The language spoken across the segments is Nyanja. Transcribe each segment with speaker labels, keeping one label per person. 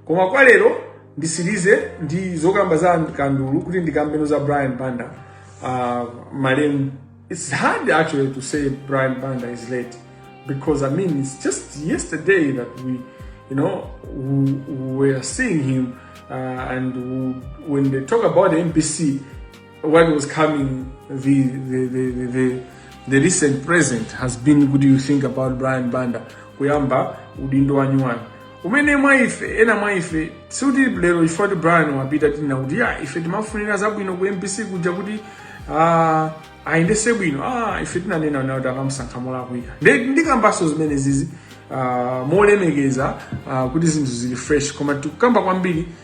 Speaker 1: koma kwa lero ndisirize ndi zokamba za kandulu kuti ndikambeno za brian banda uh, malemu it's hard actually to say brian banda is late because i mean it's just yesterday that we you know we, we were seeing him uh, and we, when they talk about the mbc when was coming the, the, the, the, the, the recent present has been kuti you think about brian banda kuyamba udindo wanyuwani uwu mene mwa ife ena mwa ife sikuti lero chifukwa kuti brian wapita tinena kuti ya ife timafunira zabwino ku mbc kuja kuti ah, ayendese bwino ah, ife tinanena nawo kuti akamusankha molakwika Ndi- ndikambaso zimene zizi ah, molemekeza ah, kuti zinthu zili fresh koma tikukamba kwambiri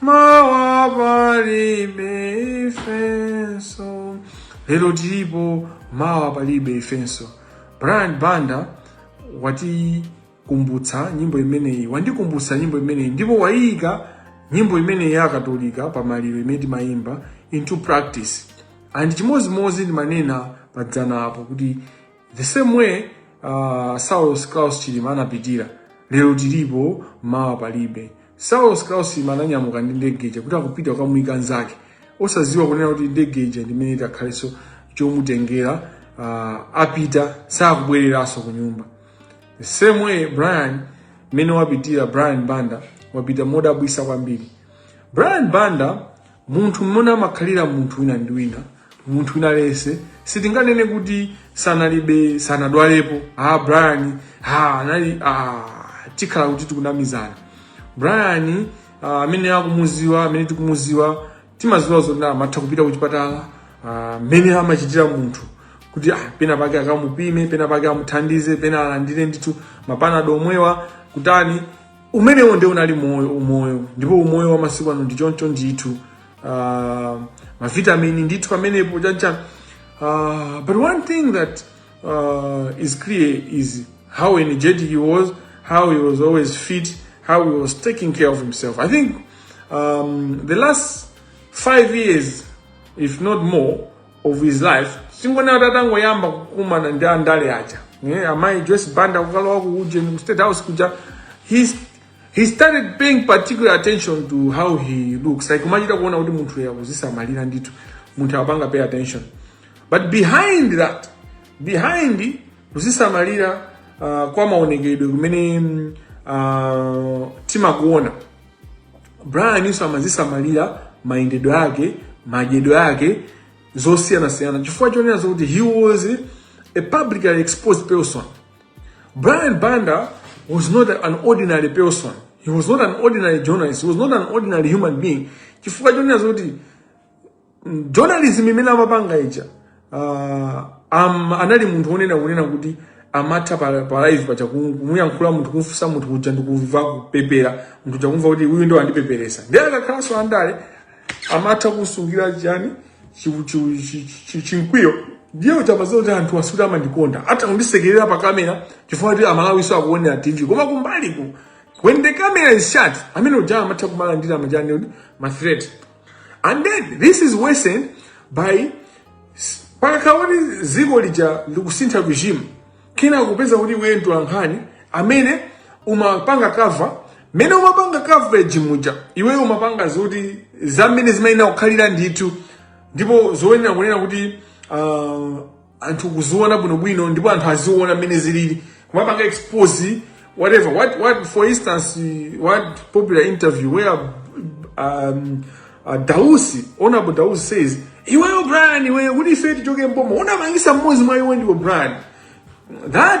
Speaker 1: mawa palibe ifenso lero tilipo mawa palibe ifenso brian banda watikumbutsa nyimbo imeneyi wandikumbutsa nyimbo imeneyi ndipo wayiyika nyimbo imeneyi ya akatolika pa maliro imene timayimba into practice and chimodzimodzi ndimanena padzana apo kuti the same way uh, saulos claus chilima anapitira lero tilipo mawa palibe saulos claus chilima ananyamuka ndi ndege ija kuti akupita kukamuyika nzake osadziwa kunena kuti ndege ija ndimene itakhalenso chomutengera uh, apita sakubwereranso ku nyumba the same way brian mmene wapitira brian banda wapita modabwisa kwambiri brian banda munthu mmene amakhalira munthu wina ndi wina munthu wina aliyense sitinganene kuti sanalibe sanadwalepo ah brian ah anali ah tikhala kuti tikunamizana brian ah, amene akumuziwa amene tikumuziwa timaziwa zoti amatha kupita kuchipatala ah, mmene amachitira munthu kuti ah, pena pake akamupime pena pake amuthandize pena alandire ndithu mapanado omwewa kutani umenewo nde unali moyo umoyo ndipo umoyo wa masiku ano ndi choncho ndithu uh, mavitamini ndithu pamenepo chancha uh, ah, but one thing that uh, is clear is how energetic he was how he was always fit how he was taking care of himself i think um, the last five years if not more of his life ndikuona tatangoyamba kukumana ndi andale aja yeah, amayi joyce banda kukalowa ku ujeni ku state house kuja he, he started paying particular attention to how he looks like umachita kuona kuti munthu uyu akuzisamalira ndithu munthu akupanga pay attention but behind that behind kuzisamalira uh, kwa maonekedwe kumene mm, uh, timakuona Brian uyuso amazisamalira mayendedwe ake, madyedwe ake zosiyanasiyana chifukwa chonena zokuti he was a publicly exposed person. Brian Banda was not an ordinary person. He was not an ordinary journalist. He was not an ordinary human being. Chifukwa chonena zokuti journalism imene amapanga ija uh, am, anali munthu onena kunena kuti amatha pa, pa live paja kumuyankhula munthu kumfunsa munthu kuja ndikuva kupepera munthu uja kumva kuti uyu nde wandipeperesa ndiye akakhalanso andale amatha kusungira chani chinkwiyo ndiye kuti amaziwa kuti anthu awa sikuti amandikonda atha kundisekerera pa kamera chifukwa kuti Amalawi akuonera tv koma kumbaliku when the camera is shut amene uja amatha kumalandira majani ma threat and then this is worsened by pakakhala kuti ziko lija likusintha regime kenako kupeza kuti iwe mtolankhani amene umapanga cover mene umapanga coverage muja iweyo umapanga zoti zamene zimayenera kukhalira ndithu ndipo zoyenera kunena kuti uh, anthu kuziona bwinobwino ndipo anthu azione mmene zilili kumapanga expose whatever what, what for instance what popular interview where um, uh, dausi honorable dausi says iweyo brian iweyo kuti ife tichoke mboma unapangisa mmodzi mwa iwo ndiwe brian that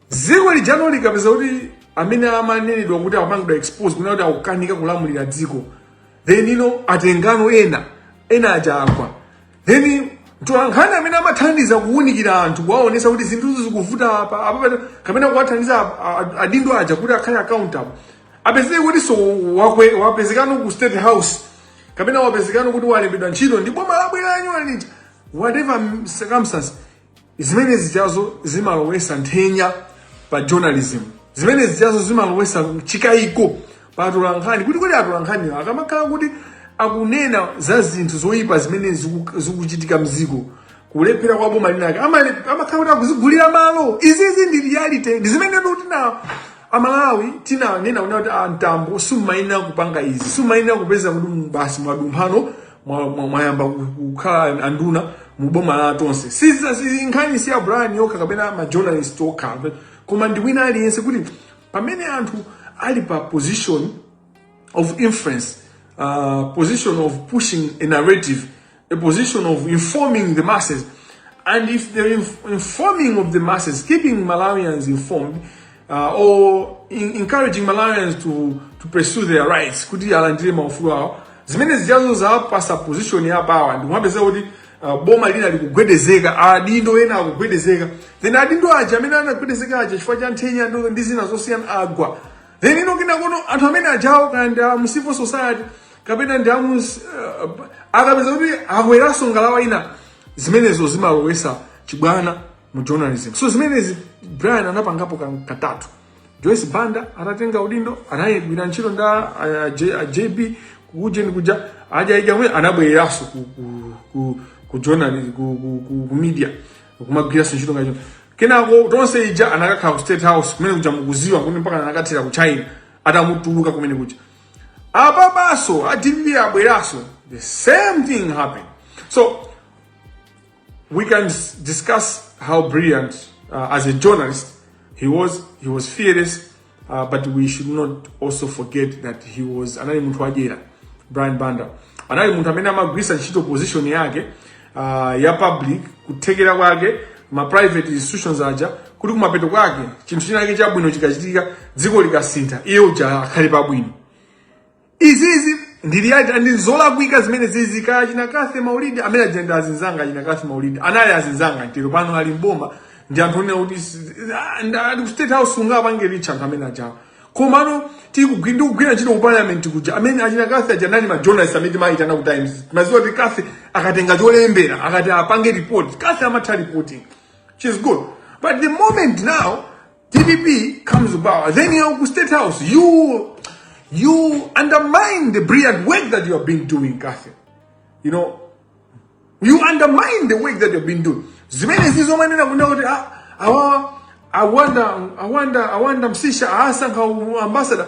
Speaker 1: dziko lijano likapezeka kuti amene amanenedwa kuti akupangidwa expose kunena kuti akukanika kulamulira dziko then eno atengano ena ena aja agwa then mtolankhani amene amathandiza kuwunikira anthu kuwaonesa kuti zinthuzo zikuvuta apa apa pano, kapena kuwathandiza a- a- adindo aja kuti akhale accountable apezeke kuti so wakwe- wapezekano ku state house kapena wapezekano kuti walembedwa ntchito ndi boma labweralo at whatever circumstance zimene zijazo zimalowesa nthenya pa journalism zimene zijazo zimalowesa chikayiko pa atolankhani kuti kodi atolankhani akamakhala kuti akunena za zinthu zoyipa zimene ziku- zikuchitika mziko kulephera kwa boma linake amale- amakhala kuti akuzigulira malo izizi ndi reality ndi zimenetu tina amalawi tinanena kuti a Mtambo simumayenera kupanga izi simumayenera kupezeka kuti basi mwadumphano mwayamba mwa, mwa kukhala anduna mu boma la tonse siza si, nkhani si ya Brian yokha kapena ma journalist okha koma ndi wina aliyense kuti pamene anthu ali pa position of influence uh, position of pushing a narrative a position of informing the masses and if their informing of the masses keeping Malawians informed uh, or in, encouraging Malawians to, to pursue their rights kuti alandire maufulu awo zimene zijazo zawapasa position ya power ndi kumapezeka kuti uh, boma lina likugwedezeka adindo ena akugwedezeka then adindo aja amene anagwedezeka aja chifukwa cha nthenya ndo- ndi zina zosiyana agwa then eno kenakono anthu amene ajawo kaya ndi amu civil society kapena ndi amu uh, akapezeka kuti akweranso ngalawa ina zimenezo zimalowesa chibwana mu journalism so zimenezi brian anapangapo kan- katatu joyce banda atatenga udindo anayigwira ntchito nda a- J- a jb kujeni kuja ajaija mwe anabwereranso ku, ku, ku, ku, journal- ku, ku, ku, ku media kumagwiranso ntchito ngacho kenako tonse ija anakakhala ku state house kumene kuja mukuziwa kuti mpaka anakathera ku china atamutulutsa kumene kuja apapanso a dpp abweranso the same thing happened so We can discuss how brilliant uh, as a journalist he was. He was fearless, uh, but we should not also forget that he was anali munthu wadyera Brian Banda anali munthu amene amagwiritsa ntchito position yake uh, ya public kuthekera kwake ma private institutions aja kuti kumapeto kwake chinthu chinake chabwino chikachitika dziko likasintha iye uja akhale pabwino izizi ndi reality and zolakwika zimenezizi kaya achina Kathy Maulidi amene aja ndi azinzanga achina Kathy Maulidi anali azinzanga tero pano ali mboma ndi anthu onena kuti si- ah, nda- ali ku state house ungapange reach anthu amene ajawa komano tikugwi- ndikugwira ntchito ku parliament kuja amene achina Kathy aja anali ma journalist amene timayitana ku times mumadziwa kuti Kathy akatenga cholembera akati apange report Kathy amatha reporting she's good but the moment now dpp comes about then you're ku state house you you undermine the brilliant work that you have been doing kathy you know you undermine the work that you've been doing zimene zizomanena kunena kuti ah, awawa awanda awanda awanda msisha asankha ambassador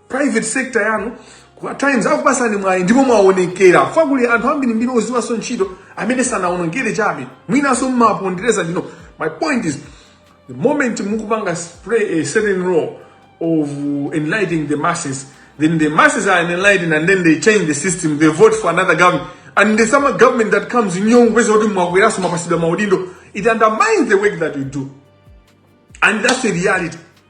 Speaker 1: private sector yanu kwa times akupasani mwayi ndipo mwaonekera chifukwa kuli anthu ambirimbiri oziwaso ntchito amene sanaonekere chabe mwinanso mmapondereza ndinu my point is the moment mukupanga play a certain role of enlightening the masses then the masses are enlightened and then they change the system they vote for another government and the same government that comes nyongweza kuti mwakweraso mwapatsidwa maudindo it undermines the work that you do and that's the reality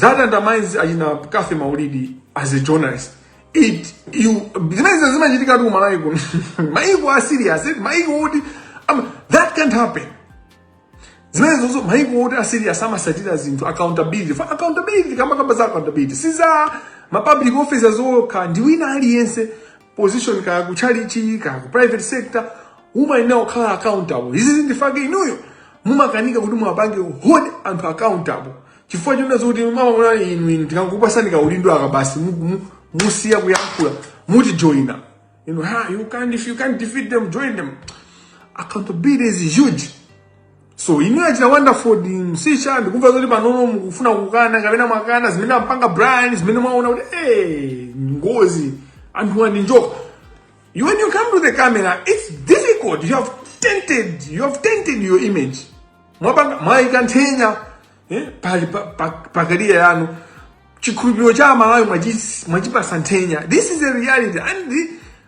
Speaker 1: that undermines achina Kathy Maulidi as a journalist it you zimenezi zimachitika ku malawi kuno maiko a serious eh? maiko oti um, that can't happen zimenezozo maiko oti a serious amatsatira zinthu accountability for accountability kamba kamba za accountability si za ma public officers okha ndi wina aliyense position kaya ku tchalitchi kaya ku private sector umayenera kukhala accountable izizi ndi chifukwa chake inuyo mumakanika kuti muwapange hold anthu accountable chifukwa chonena zokuti amaona inu inu tikangokupasani kaudindo aka basi mu- mu- musiya kuyankhula mutijoina inu ha you can't if you can't defeat them join them accountability is huge So inu achina Wonder Msiska ndikumva zoti panono mukufuna kukana kapena mwakana zimene amapanga Brian zimene mwaona kuti eh ngozi anthuwa ndi njoka. You when you come to the camera it's difficult you have tainted you have tainted your image. Mwapanga mwaika nthenya eh pali pa, pa, pa career yanu chikhulupiriro cha aMalawi mwachipatsa nthenya. This is the reality and the,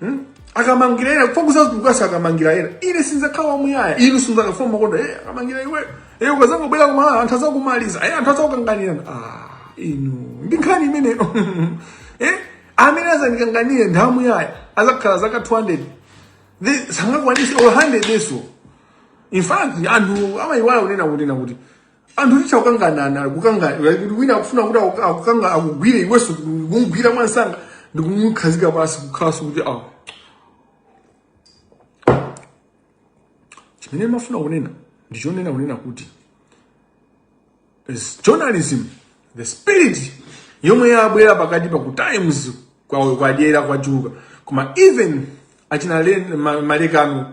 Speaker 1: hmm? akamangira ena kufa kusazitukasi akamangira ena ine sinzakhala wamuyaya inu sinzakafuna makonda e akamangira iwe e ukazangobwera kumala anthu azakumaliza e anthu azakukanganirana ah, inu ndi nkhani imeneyo eh? amene azandikanganire ndamuyaya adzakhala zaka 200 sangakwanise or 100 yeso in fact anthu amayiwala kunena kuti na kuti anthu tichita kukanganirana kukanga kuti wina akufuna kuti aku- akukanga akugwire iwenso kumugwira mwansanga ndikumukhazika pansi kukhala kuti awo chimene mafuna kunena ndichonena kunena kuti is journalism the spirit yomwe yabwera pakati pa ku times kwa- kwadyera kwachuluka koma even achina Len- Ma- malekano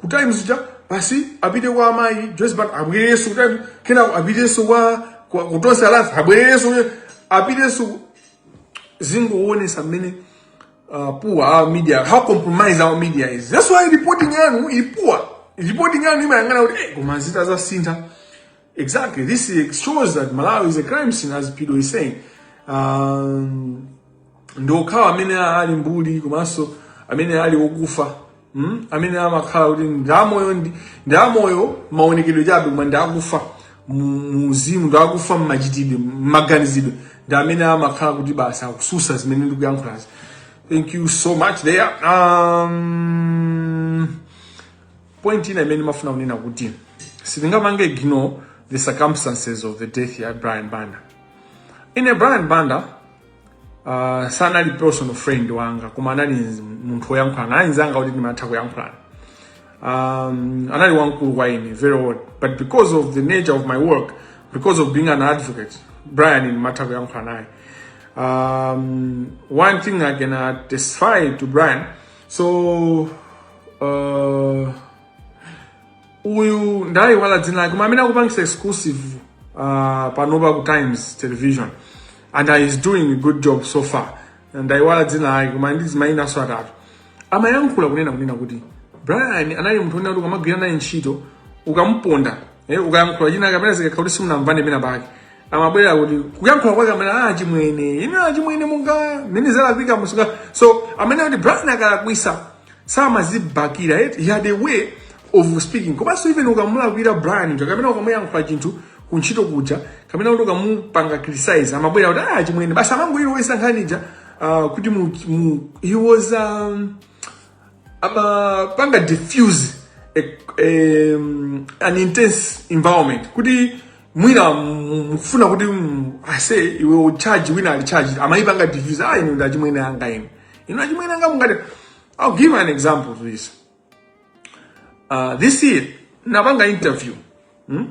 Speaker 1: ku times ija basi apite kwa amayi joyce banda abwererenso ku times kenako apitenso kwa kwa- ku tonse alliance abwererenso ku- apitenso ku- zikungoonesa mmene uh, poor our media how compromised our media is that's why reporting yanu ili poor reporting yanu imayang'ana kuti eh, koma zinthu zasintha Exactly. This shows that Malawi is a crime scene, as Pido is saying. Um, ndi okhawo amene ali mbuli komanso amene ali okufa mm? amene amakhala kuti ndamoyo ndi- ndamoyo maonekedwe chabe koma ndakufa muuzimu ndakufa mmachitidwe mmaganizidwe ndi amene amakhala kuti basi akususa zimene ndikuyankhulazi thank you so much there um, point ina imene mafuna kunena kuti sitingapange ignore the circumstances of the death ya brian banda ine brian banda uh, sanali personal friend wanga koma anali munthu woyankhulana anali nzanga kuti ndimatha kuyankhulana um, anali wamkulu kwa ine very old but because of the nature of my work because of being an advocate brian ndimatha kuyankhulana naye um, one thing i can uh, testify to brian so uh, uyu ndayiwala dzina lake koma amene akupangisa exclusive uh, panopa ku times television and is doing a good job so far ndayiwala dzina lake koma ndi azimayi enanso atatu amayankhula kunena kunena kuti brian anali munthu onena kuti ukamagwira naye ntchito ukamuponda Eh, ukayankhula china kapena zikakhala kuti simunamvane pena pake amabwera kuti kuyankhula kwake amene ah chimwene ine ah chimwene munga mene zalakwika musuka so amene kuti Brian akalakwisa samazibakila yet he had a way of speaking komanso even ukamulakwira Brian uja kapena ukamuyankhula chinthu kuntchito kuja kapena kuti ukamupanga criticize amabwera kuti ah chimwene basi amangoyiwala nkhani ija ah, kuti mu, mu, he was um, amapanga diffuse a, a, um, an intense environment kuti mwina m- mufuna kuti mm, aise iwe wacharge wina ali charge amayipanga diffuse ah inu ndachimwene anga inu inu achimwene anga mungati i'll give you an example to this uh, this year napanga interview Hmm?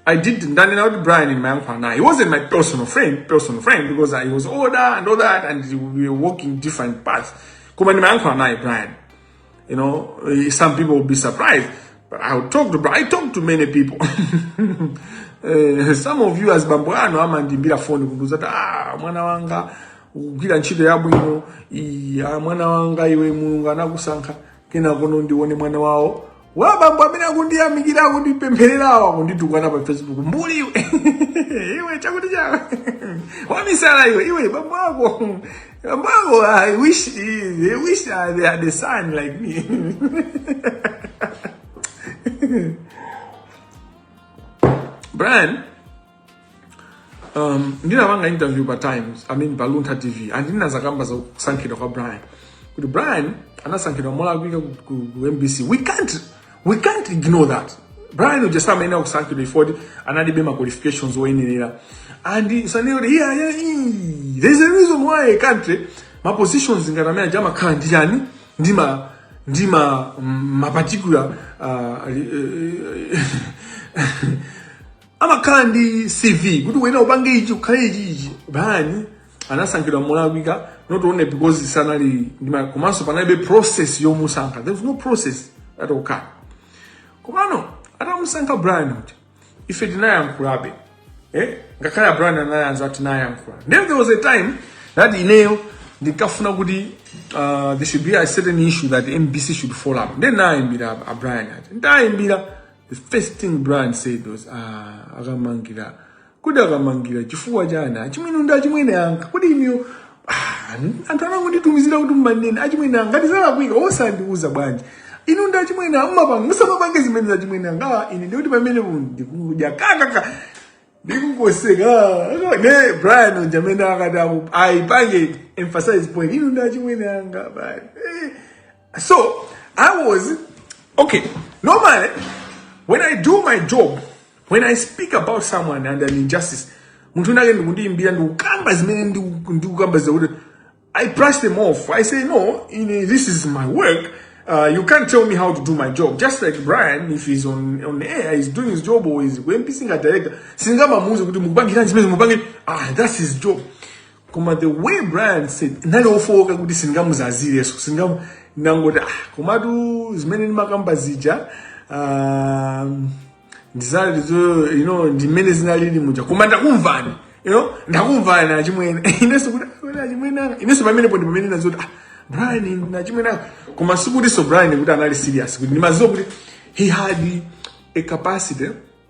Speaker 1: I did ndani na Brian in my uncle now. He wasn't my personal friend, personal friend because I was older and all that, and we were walking different paths. Come in my uncle and I, Brian. You know, eh, some people will be surprised, but I would talk to Brian. I talk to many people. Eh, some of you as bambo ano amandimbira phone kunduza ta ah, mwana wanga kugwira ntchito yabwino ah, mwana wanga iwe mulungu anakusankha kenako ndione mwana wawo abambo amene akundiyamikira akundipempherera awa akunditukwana pa facebook mbuli iwe iwe chakuti chake wamisala iwe iwe bambo ako bambo ako i wish they had a son like me brian um, ndinapanga interview pa times i mean pa luntha tv and ndinadzakamba za kusankhidwa kwa brian kuti brian anasankhidwa molakwika ku, ku, ku mbc we can't, we can't ignore that brian uja samayenera kusankhidwa poti analibe ma qualifications oyenerera and sananene kuti yeah, yeah, ee, there's a reason why a country ma positions ngati amene aja amakhala ndi chani ndi ma ndi ma ma particular uh, amakhala ndi cv kuti uyenera upange ichi ukhale ichi ichi brian anasankhidwa molakwika not only because sanali ndi ma- komanso panalibe process yomusankha there was no process at all kind komano atamusankha brian kuti ife tinayankhulabe eh? ngakhale a brian anayamba tinayankhula then there was a time that ineyo ndinkafuna kuti uh, there should be a certain issue that mbc should follow up then nayimbira a brian ati ndayimbira the first thing brian said was ah, a kamangila kodi a kamangila chifukwa chani achimwene ndi achimwene anga kodi inuyo ah, anthu anangonditumizira kuti mumanena achimwene anga ngati zalakwika osandiuza bwanji inu ndi achimwene anga mumapanga musamapange zimene za achimwene anga Ah, ine ndikuti pamene ndikudya kakaka ndikungoseka ah, ne brian uja mmene akati aku- ayipange emphasize point inu ndi achimwene anga bali Eh, So I was okay. Normally, when I do my job, when I speak about someone and an injustice, munthu nake ndikundiimbira ndikukamba zimene ndiku- ndikukamba zakuti I brush them off. I say no, you know, this is my work. Uh, you can't tell me how to do my job. Just like Brian, if he's on on air, he's doing his job or he's MPC nga director. Singamamuuze kuti mukupangira zimene mukupangira. Ah, that's his job. koma the way brian said ndinali ofowoka kuti sindingamuzazirenso sindingamu ndangoti ah komatu zimene ndimakamba zija um, ndizoonadi zo you know ndi mmene zinalili muja koma ndakumvani you know ndakumvani achimwene inenso kuti "Ah, ndinu achimwene anga inenso pamenepo ndi pamene ndinati ah brian ndachimwene anga koma sikuti so brian kuti anali serious kuti ndimadziwa kuti he had a capacity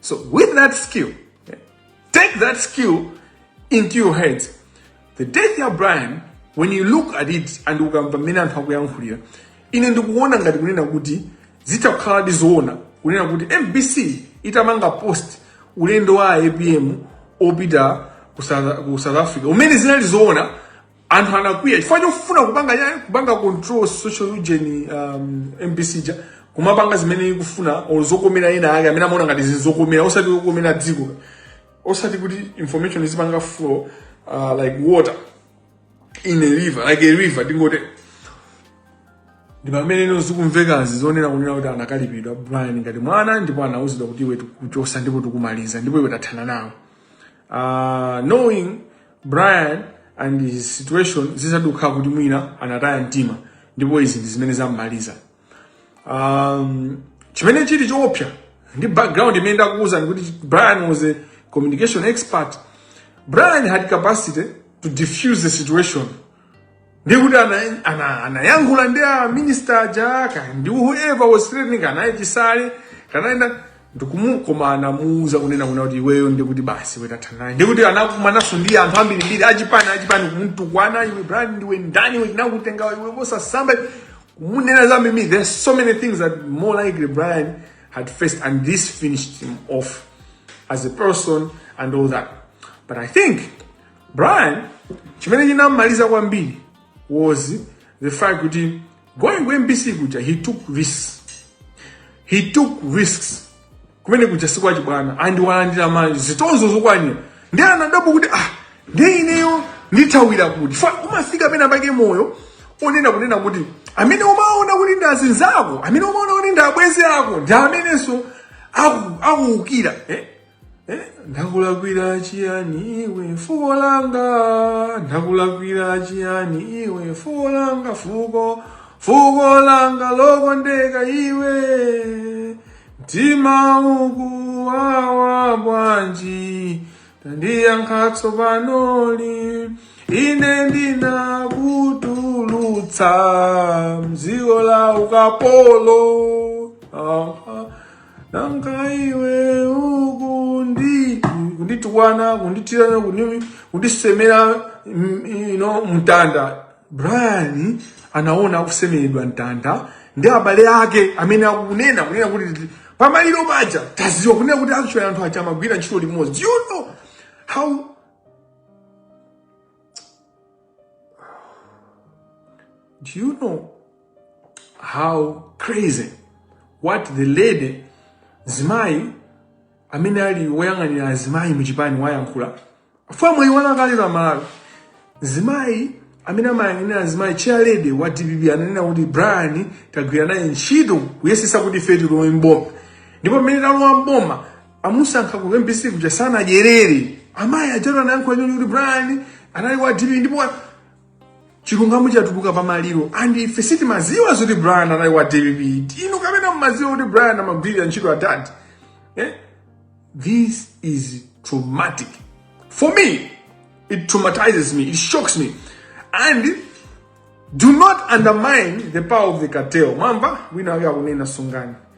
Speaker 1: So with that skill, take that skill into your head. The death ya Brian, when you look at it and ukumva mmene anthu akuyankhulira, ine ndikuona ngati kunena kuti zitha kukhala ndi zoona kunena kuti mbc itapanga post ulendo wa apm wopita ku south, ku south africa umene zinali zoona anthu anakwiya chifukwa chofuna kupanga ya kupanga control social ujeni um, mbc ja kumapanga zimene ikufuna or zokomera ena ake amene amaona ngati zizikomera osati kukomera dziko osati kuti information izipanga flow uh, like water in a river like a river tingote ndi pameneno zikumvekazi zonena kunena kuti anakalipidwa brian ngati mwana ndipo anauzidwa kuti iwe tikuchosa ndipo tikumaliza ndipo iwe tathana nawo uh, knowing brian and his situation zikutheka kuti mwina anataya mtima ndipo izi ndi zimene zammaliza um, chimene chili choopsa ndi background imene ndakuwuzani kuti brian was a communication expert brian had capacity to diffuse the situation ndikuti anayankhula ana, anayankhula ndi a minister aja ka- ndi whoever was threatening kaya ndi chisale kaya ndani koma anamuuza kunena kuna kuti iweyo ndikuti basi iwe tathana ndikuti anakumananso ndi anthu ambirimbiri achipani achipani kumtukwana iwe brian ndiwe ndani iwe tinakutenga iwe posasamba kumunena za mimi there's so many things that more likely brian had faced and this finished him off as a person and all that but i think Brian chimene chinammaliza kwambiri was the fact kuti going ku mbc kuja he took risks he took risks kumene kuja sikwachibwana and walandira manje zitonzo zokwanira ndi anadabwa kuti ah ndi ineyo ndithawira kuti fa umafika pena pake moyo wonena kunena kuti amene umaona kuti ndi azinzako amene umaona kuti ndi abwenzi ako ndi amenenso aku- akuukira eh? Eh, ndakulakwira chiyani iwe fuko langa ndakulakwira chiyani iwe fuko langa fuko fuko langa lokondeka iwe mtima ukuwawa bwanji tandiyankha tsopano lino ine ndinakutulutsa mdziko la ukapolo ah, ah. nanga iwe ukundi kunditukwana kunditirana kundi- kundisemera mm, ine mtanda brian anaona akusemeredwa mtanda ndi abale ake amene akunena kunena kuti pamaliro paja taziwa kunena kuti actually anthu aja amagwira ntchito limodzi you know how Do you know how crazy what the lady zimayi amene ali woyang'anira azimayi mu chipani wayankhula pamwambo wa maliro uja zimayi amene amayang'anira azimayi chair lady wa dpp ananena kuti brian tagwira naye ntchito kuyesesa kuti ife tilowe mboma ndipo mmene talowa mboma amusankha ku mbc kuja sanadyerere amayi ajatu anayankhula nkhani kuti brian anali wa dpp ndipo wa- chilungamo chatuluka pa maliro and ife sitimaziwa zoti brian anali wa dpp inu kapena mumaziwa kuti brian amagwirira ntchito a tate eh? this is traumatic for me it traumatizes me it shocks me and do not undermine the power of the cartel mwamva wina wake akunena sungani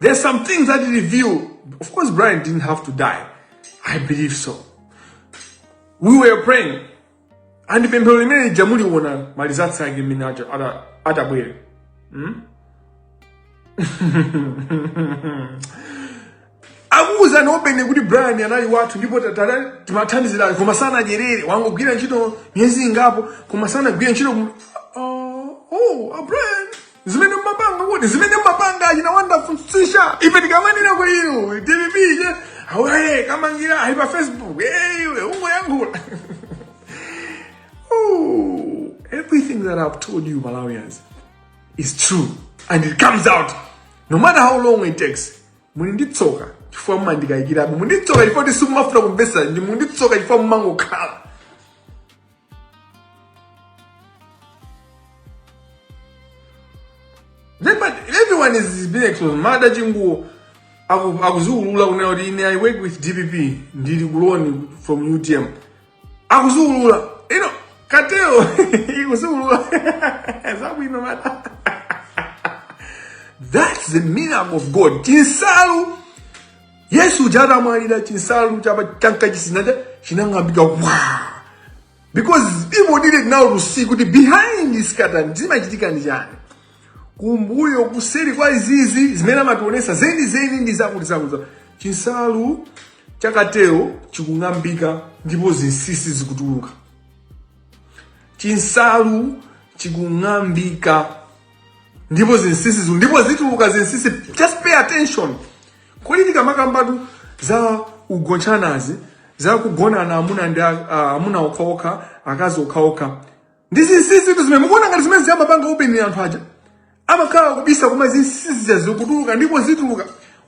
Speaker 1: There's some things that he revealed. Of course, Brian didn't have to die. I believe so. We were praying. And pemphero limene ija muliona maliza tsake mmene atabwere. Hmm? akuwuza nopena kuti brian anali wathu ndipo timathandizirani koma sanadyerere wangogwira ntchito miyezi ingapo koma sanagwire ntchito oh, oh, brian zimene mumapanga oti zimene mumapanga achina wonderful sisha ife tikamanena kwa inu dpp ye awaye kamangira ali pa facebook eh, iwe ungoyankhula Ooh, everything that I've told you, Malawians, is true. And it comes out. No matter how long it takes. Muli ndi tsoka chifukwa mumandikayikirabe. Muli ndi tsoka chifukwa choti simumafuna kumvesa. Ndi muli ndi tsoka chifukwa mumangokhala. Then, but everyone is, is being exposed. Mada Chinguo aku- akuziulula kunena kuti ine I work with DPP ndili clone from UTM. Akuziulula. You know, Cartel ikuziulula. Zabwino mada. That's the miracle of God. Chinsalu yesu uja atamwalira chinsalu chapa cha m'kachisi muja chinang'ambika wa because people needed now to see kuti behind this curtain zimachitika ndi chani kumbuyo kuseri kwa izizi zimene amationesa zeni zeni ndi zakuti zakuti zakuti. chinsalu cha cartel chikung'ambika ndipo zinsinsi zikutuluka chinsalu chikung'ambika ndipo zinsinsi ziku- ndipo zituluka zinsinsi just pay attention kodi tikamakambatu za ugonchanazi za kugonana amuna ndi a- a- amuna okhaokha akazi okhaokha ndi zinsinsitu zimene mukuona ngati zimene zija amapanga openly anthu aja amakhala akubisa koma zinsinsi zikutuluka ndipo zituluka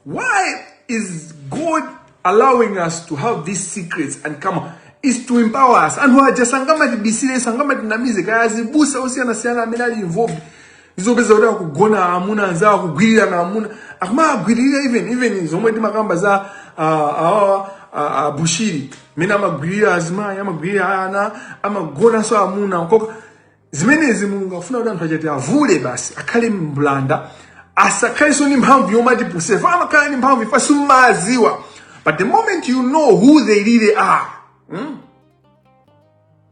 Speaker 1: why is god allowing us to have these secrets and come is to empower us anthu aja sangamatibisire sangamatinamize kaya azibusa osiyanasiyana amene ali involved zopeza kuti akugonana amuna anzawo akugwirirana amuna akumagwiririra even even zomwe timakamba za awawa a Bushiri mene amagwirira azimayi amagwirira ana amagonanso amuna okha zimenezi mulungu afuna kuti anthu achati avule basi akhale mbulanda asakhalenso ndi mphamvu yomatipusitsa ife amakhala ndi mphamvu ife sitimadziwa but the moment you know who they really are hmm?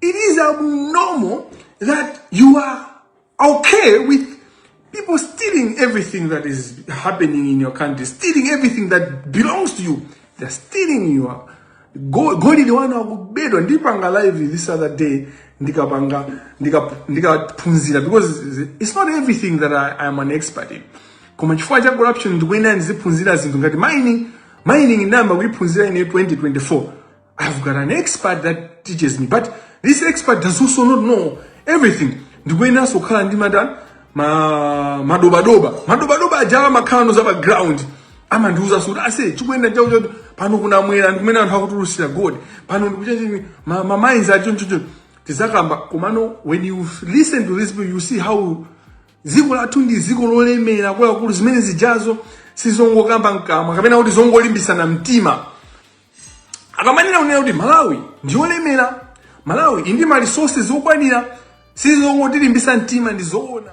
Speaker 1: It is abnormal that you are okay with people stealing everything that is happening in your country, stealing everything that belongs to you. They're stealing you. Go, go to the one who bed on deep live this other day. Ndikapanga, ndikaphunzira because it's not everything that I, I'm an expert in. Koma chifukwa cha corruption ndikuyenera ndiziphunzira zinthu ngati mining, mining number we in 2024. I've got an expert that teaches me but this expert does also not know everything ndikuyeneranso kukhala ndi mata ma madobadoba madobadoba aja amakhala no zapa ground amandiuza kuti ase chikuyenda chawo choti pano kuna mwera ndikumene anthu akutulusira god pano ndikuchachii ma, ma mines acho nchocho tidzakamba komano when you f- listen to this people you see how dziko lathu ndi dziko lolemera kwakukulu zimene zijazo sizongokamba mkamwa kapena kuti zongolimbisana mtima akamanena kunena kuti malawi ndiyolemera malawi ili ndi ma resources okwanira sizongotilimbitsa mtima ndizoona